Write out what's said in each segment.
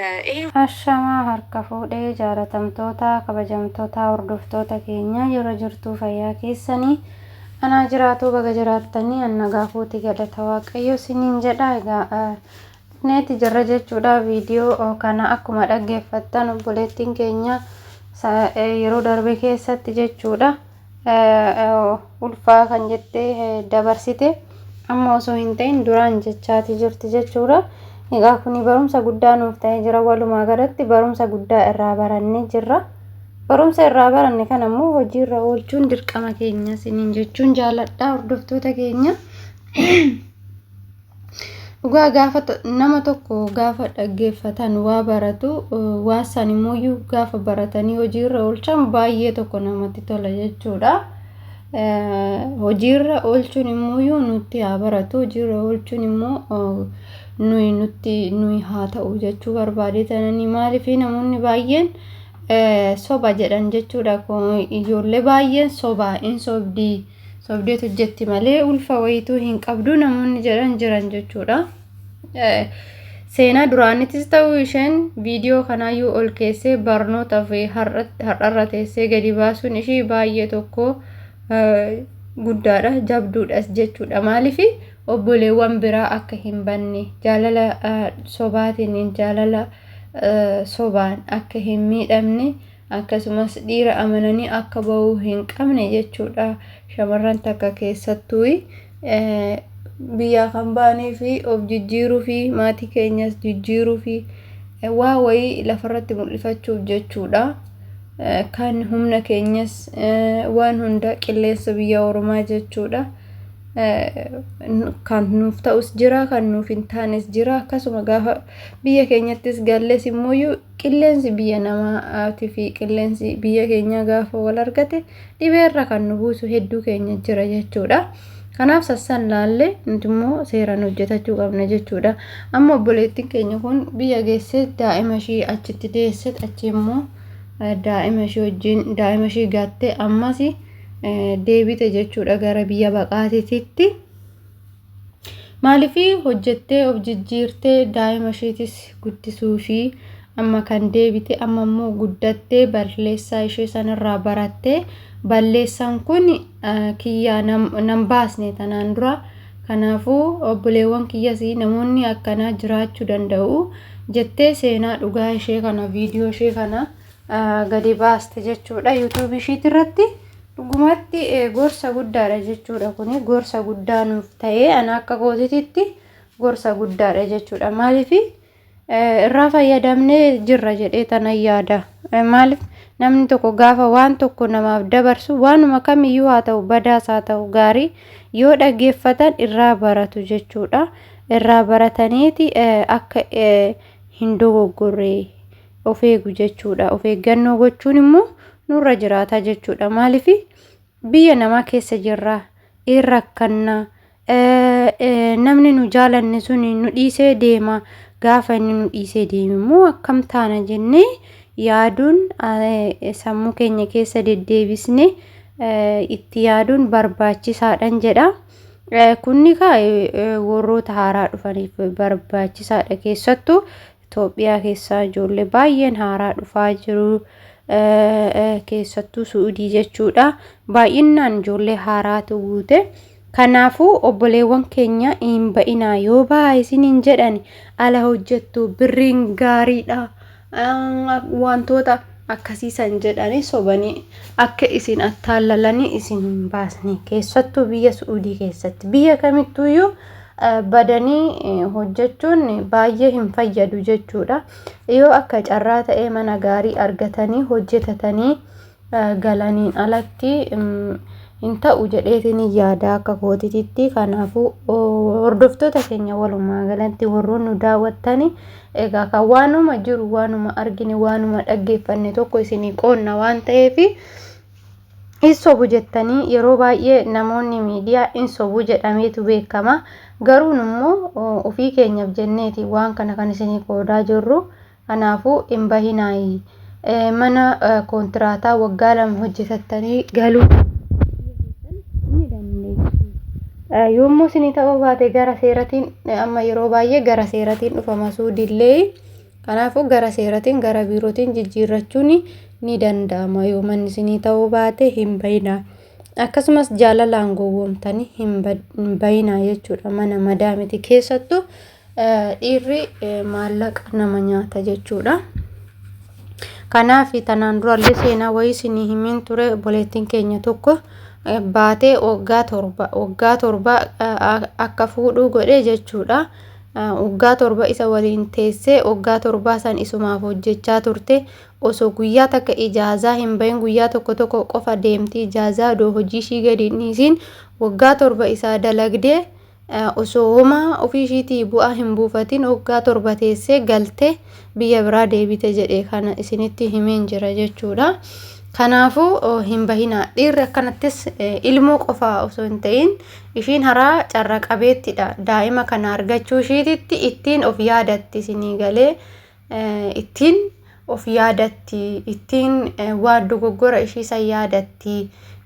Ee. Ashamaa harka fuudhe jaalatamtoota kabajamtotaa hordoftoota keenyaa jora jirtuu fayyaa keessani anaa jiraatuu baga jiraattani an nagaa kooti galata waaqayyoo siniin jedha egaa dhufneeti jirra jechuudha viidiyoo kana akkuma dhaggeeffattan obboleettiin keenya yeroo darbe keessatti jechuudha ulfaa kan jette dabarsite amma osoo hin ta'in duraan jechaati jirti jechuudha. Egaa kun barumsa guddaa nuuf ta'ee jira walumaa galatti barumsa guddaa irraa barannee jirra. Barumsa irraa baranne kana immoo hojiirra oolchuun dirqama keenya isiniin jechuun jaaladha hordoftoota keenya. Dhugaa gaafa nama tokko gaafa dhaggeeffatan waa baratu waa san immoo gaafa baratanii hojiirra oolchan baay'ee tokko namatti tola jechuudha. Hojiirra oolchuun immoo nutti haa baratu hojiirra oolchuun immoo nuyi nutti nuyi haa ta'u jechuu barbaadee tananii maaliif namoonni baay'een soba jedhan jechuudha ijoollee baay'een soba hin sobdii. Sobdeet hojjetti malee ulfa wayituu hin qabdu namoonni jedhan jiran jechuudha. Seenaa duraanittis ta'u isheen viidiyoo kanaayyuu ol keessee barnoota fi har'arra teessee gadi baasuun ishii baay'ee tokko guddaadha jabduudhas jechuudha. Maaliif obboleewwan biraa akka hin banne jaalala sobaatiin jaalala sobaan akka hin miidhamne akkasumas dhiira amananii akka ba'uu hin qabne jechuudha. Shamarran takka keessattuu biyyaa kan ba'anii fi of jijjiiruu fi maatii keenyas jijjiiruu fi waa wayii lafarratti mul'ifachuuf jechuudha. Kan humna keenyas waan hunda qilleensa biyya Oromaa jechuudha. Kan nuuf ta'us jira, kan nuuf hin taanes jira. Akkasuma gaafa biyya keenyattis galles immoo Qilleensi biyya namaatii fi qilleensi biyya keenyaa gaafa wal argate dhibeerra kan nu buusu hedduu keenya jira jechuudha. Kanaaf sassan laallee nuti immoo seeraan hojjetachuu qabna jechuudha. Amma obboleettiin keenya kun biyya geessee daa'ima ishii achitti deesse achi immoo daa'ima ishii wajjin daa'ima ishii gaattee ammas deebite jechuudha gara biyya baqaatiitti. Maaliif hojjettee of jijjiirtee daa'ima isheetis guddisuu ishii amma kan deebite amma immoo guddattee balleessaa ishee sanarraa barattee balleessaan kun kiyyaa nan baasne tanaan dura kanaafuu obboleewwan kiyyas namoonni akkanaa jiraachuu danda'u jettee seenaa dhugaa ishee kana viidiyoo ishee kana gadi baaste jechuudha yuutuubii ishiitti irratti dhugumatti gorsa guddaadha jechuudha kun gorsa guddaa nuuf ta'ee ana akka kootititti gorsa guddaadha jechuudha maaliif irraa fayyadamnee jirra jedhee tana yaada maaliif namni tokko gaafa waan tokko namaaf dabarsu waanuma kamiyyuu haa ta'u badaas haa ta'u gaarii yoo dhaggeeffatan irraa baratu jechuudha irraa barataniiti akka hin dogoggorree of eegu jechuudha. Of eeggannoo gochuun immoo nurra jiraata jechuudha. Maaliif biyya namaa keessa jirra, in rakkanna, namni nu jaalanne sun nu dhiisee deema. Gaafa inni nu dhiisee deeme immoo akkam taana jennee yaaduun sammuu keenya keessa deddeebisne itti yaaduun barbaachisaadhan jedha. Kunni kaa warroota haaraa dhufaniif barbaachisaadha keessattuu Itoophiyaa keessaa ijoollee baay'een haaraa dhufaa jiru. Keessattuu Su'udii jechuudha. Baay'inaan ijoollee haaraatu guute. Kanaafuu obboleewwan keenya hin ba'inaa yoo ba'aa isiniin jedhan ala hojjettu birriin gaariidha. Wantoota akkasii san jedhanii sobanii akka isin attaallalanii isin hin baasne keessattuu biyya Su'udii keessatti biyya kamittuuyyuu badanii hojjechuun baay'ee hin fayyadu jechuudha. Yoo akka carraa ta'ee mana gaarii argatanii hojjetatanii galaniin alatti hin ta'u jedheetiin yaada akka kootititti kanaafuu hordoftoota keenya walumaa galatti warroon nu daawwattanii egaa kan waanuma jiru waanuma argine waanuma dhaggeeffanne tokko isinii qoonna waan ta'eefi. Hin sobu jettanii yeroo baay'ee namoonni miidiyaa hin sobu jedhameetu beekama. Garuu immoo ofii keenyaaf jenneeti waan kana kan isinii qoodaa jirru. Kanaafuu hin bahinaayi. Mana koontiraataa waggaa lama hojjetattanii galuu ni dandeessu. Yommuu isinii ta'uu baate gara seeratiin amma yeroo baay'ee gara seeratiin dhufama suudillee. Kanaafuu gara seeratiin gara biirootiin jijjiirrachuun ni danda'ama yoo manni isinii ta'uu baate hin bayinaa akkasumas jaalalaan gowwoomtanii hin bayinaa jechuudha mana madaa miti keessattu dhiirri maallaqa nama nyaata jechuudha. Kanaaf tanaan durallee seenaa wayii isinii himiin ture obboleettiin keenya tokko baatee waggaa torba waggaa torba akka fuudhuu godhe jechuudha. Waggaa torba isa waliin teessee waggaa torbaa san isumaaf hojjechaa turte. Osoo guyyaa takka ijaazaa hin bahin guyyaa tokko tokko qofa deemti. Ijaazaa odoo hojii ishii gadi hin dhiisiin waggaa torba isaa dalagdee osoo homaa ofii ishiitii bu'aa hin buufatin waggaa torba teessee galte. biyya biraa deebite jedhe kana isinitti himeen jira jechuudha. Kanaafuu hin bahinaa. Dhiirri akkanattis ilmoo qofaa osoo hin ta'in ishiin haraa carra qabeettidha. Daa'ima kana argachuu ishiititti ittiin of yaadatti isinii galee ittiin of yaadatti ittiin waan dogoggora ishii san yaadatti.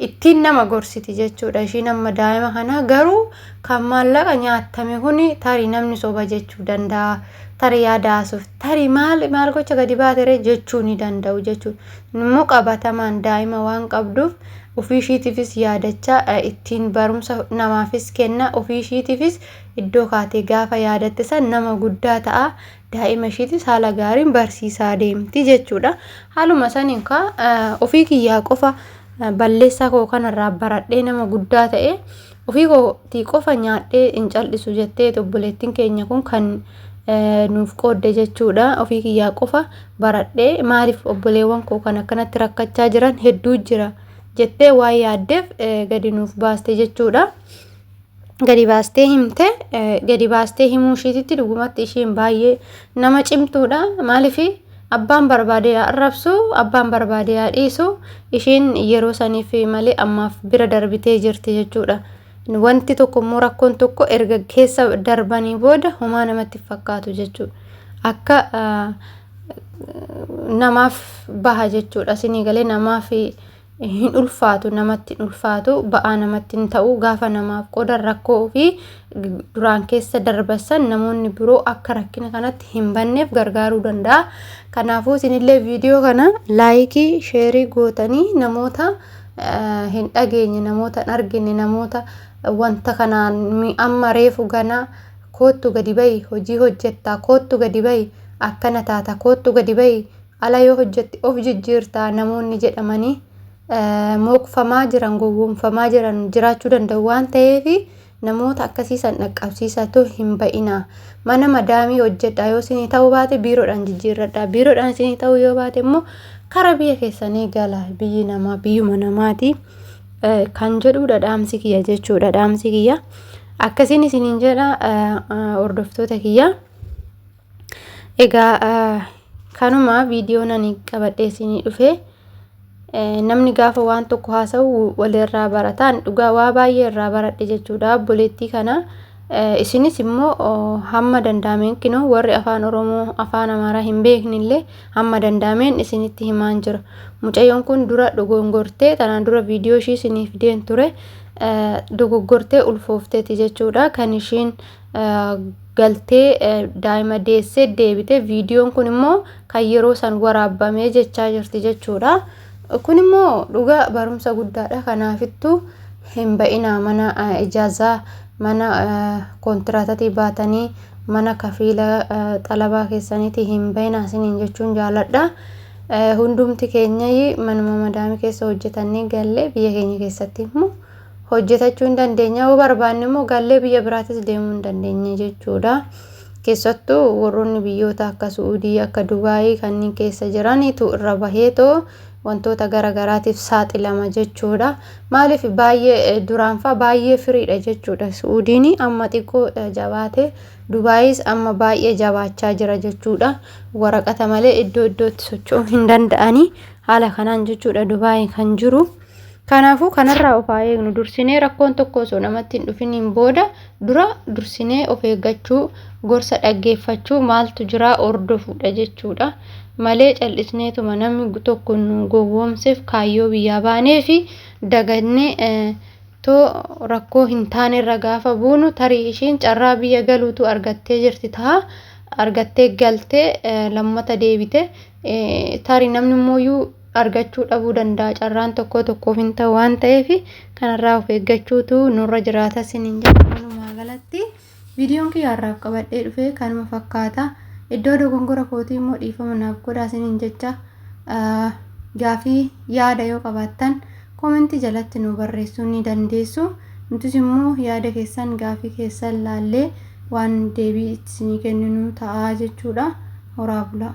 ittiin nama gorsiti jechuudha ishiin amma daa'ima kana garuu kan maallaqa nyaattame kuni tarii namni soba jechuu danda'a tarii yaada haasuuf tarii maal maal gocha gadi baatere jechuu ni danda'u jechuudha immoo qabatamaan daa'ima waan qabduuf ofii ishiitiifis yaadachaa eh, ittiin barumsa namaafis kenna ofii ishiitiifis iddoo kaatee gaafa yaadatte san nama guddaa ta'a daa'ima ishiitis haala gaariin barsiisaa deemti jechuudha. Haaluma saniin kaa ofii kiyyaa qofa balleessaa koo kanarraa baradhee nama guddaa ta'e ofii kootii qofa nyaadhee hin cal'isu jettee obboleettiin keenya kun kan nuuf qoodde jechuudha. Ofii kiyyaa qofa baradhee maaliif obboleewwan koo kan akkanatti rakkachaa jiran hedduu jira jettee waan yaaddeef gadi nuuf baaste jechuudha. gadi baastee himte gadi baastee himuu ishiititti dhugumatti ishiin baay'ee nama cimtuudha maaliif abbaan barbaade yaa arrabsu abbaan barbaade yaa dhiisu ishiin yeroo saniif malee ammaaf bira darbitee jirti jechuudha. Wanti tokko immoo rakkoon tokko erga keessa darbanii booda homaa namatti fakkaatu jechuudha. Akka namaaf baha jechuudha. Sinii galee namaaf hin ulfaatu namatti hin ulfaatu ba'aa namatti hin ta'u gaafa namaaf qoodan rakkoo fi duraan keessa darbasan namoonni biroo akka rakkina kanatti hin banneef gargaaruu danda'a kanaafuu isinillee viidiyoo kana laayikii sheerii gootanii namoota hin dhageenye namoota hin argine namoota wanta kanaan amma reefu ganaa koottu gadi ba'i hojii hojjettaa koottu gadi ba'i akkana taata koottu gadi ba'i ala yoo hojjette of jijjiirta namoonni jedhamanii mookfamaa jiran gowwoomfamaa jiran jiraachuu danda'u waan ta'eef namoota akkasii san dhaqqabsiisatu hin ba'ina mana madaamii hojjedha yoo isinii ta'uu baate biiroodhaan jijjiirradha biiroodhaan isinii ta'uu yoo baate immoo kara biyya keessanii gala biyyi namaa biyyuma namaati kan jedhuudha dhaamsi kiyya jechuudha dhaamsi kiyya akkasiin isiniin jedha hordoftoota kiyya. Egaa kanuma viidiyoon ani qabadhee isinii dhufe namni gaafa waan tokko haasa'u walirraa barataan dhugaa waa baay'ee irraa baradhe jechuudha obboleettii kana. Isinis immoo hamma danda'ameen kinoo warri afaan Oromoo afaan Amaaraa hin beeknillee hamma danda'ameen isinitti himaan jira. Mucayyoon kun dura dogongortee tanaan dura viidiyoo ishii isiniif deen ture dogoggortee ulfoofteeti jechuudha kan ishiin galtee daa'ima deessee deebite viidiyoon kun immoo kan yeroo san waraabamee jechaa jirti jechuudha. Kun immoo dhugaa barumsa guddaadha kanaafittuu hin ba'inaa mana ijaazaa mana kontiraatatii baatanii mana kafiila xalabaa keessaniitii hin ba'inaa isiniin jechuun jaaladha. Hundumti keenya manuma madaamii keessa hojjetannee galle biyya keenya keessatti immoo hojjetachuu hin dandeenye yoo barbaanne immoo gallee biyya biraatis deemuu hin dandeenye jechuudha. Keessattuu warroonni biyyoota akka Su'uudii akka Dubaayii kanneen keessa jiranitu irra baheetoo wantoota gara garaatiif saaxilama jechuudha. Maaliif baay'ee duraanfaa baay'ee firiidha jechuudha. Su'uudiin amma xiqqoo jabaate Dubaayis amma baay'ee jabaachaa jira jechuudha. Waraqata malee iddoo iddootti socho'uu hin danda'anii haala kanaan jechuudha Dubaayii kan jiru. Kanaafuu kanarraa of haa eegnu. Dursinee rakkoon tokko osoo namatti hin dhufiniin booda dura dursinee of eeggachuu, gorsa dhaggeeffachuu, maaltu jiraa hordofuudha jechuudha. Malee cal'isneetuma namni tokko nu gowwoomseef kaayyoo biyyaa baanee fi dagannee too rakkoo hin taanerra gaafa buunu tarii ishiin carraa biyya galuutu argattee jirti taha argattee galtee lammata deebite Tarii namni immoo argachuu dhabuu danda'a carraan tokkoo tokkoof hin ta'u waan ta'eef kanarraa of eeggachuutu nurra jiraata isiniin jedha walumaa galatti viidiyoon kiyya har'aaf qabadhee dhufee kanuma fakkaata iddoo dogongora kootii immoo dhiifama naaf godhaa isiniin jecha gaafii yaada yoo qabaattan Comment jalatti nuu barreessuu ni dandeessu. Nutis immoo yaada keessan, gaafii keessan laallee waan deebii itti isinii kenninu ta'a jechuudha. Horaa bulaa!